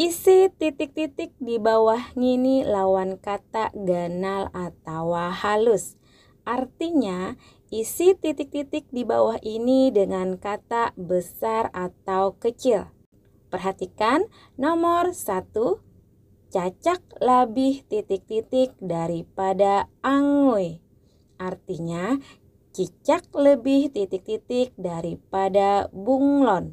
Isi titik-titik di bawah ngini lawan kata ganal atawa halus. Artinya, isi titik-titik di bawah ini dengan kata besar atau kecil. Perhatikan nomor satu, cacak labih titik-titik daripada angui. Artinya, cicak lebih titik-titik daripada bunglon.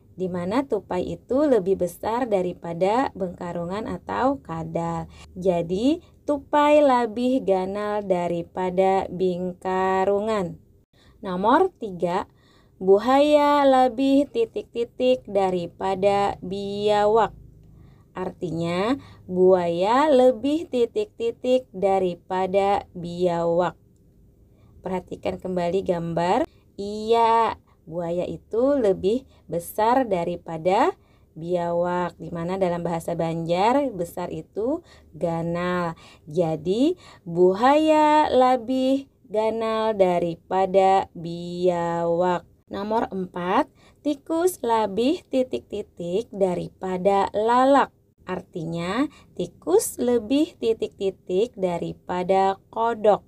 di mana tupai itu lebih besar daripada bengkarungan atau kadal. Jadi, tupai labih ganal daripada bingkarungan. Nomor tiga, buhaya labih titik-titik daripada biawak. Artinya, buaya lebih titik-titik daripada biawak. Perhatikan kembali gambar. Iya, Buaya itu lebih besar daripada biawak di mana dalam bahasa Banjar besar itu ganal. Jadi buhaya labih ganal daripada biawak. Nomor empat, tikus labih titik-titik daripada lalak. Artinya, tikus lebih titik-titik daripada kodok.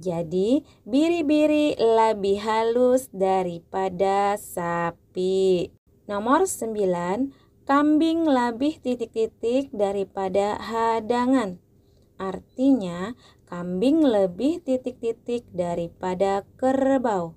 Jadi, biri-biri labih halus daripada sapi. Nomor sembilan, kambing labih titik-titik daripada hadangan. Artinya, kambing lebih titik-titik daripada kerbau.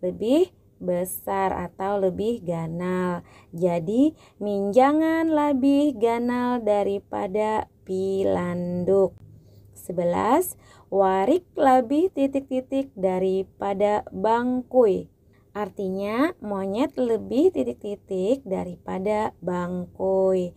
Lebih besar atau lebih ganal. Jadi, minjangan labih ganal daripada pilanduk. Sebelas, warik labih titik-titik daripada bangkui. Artinya, monyet lebih titik-titik daripada bangkui.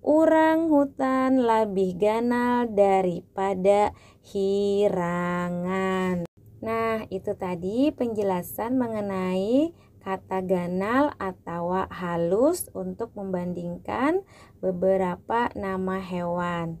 Urang hutan labih ganal daripada hirangan. Nah, itu tadi penjelasan mengenai kata ganal atawa halus untuk membandingkan beberapa nama hewan.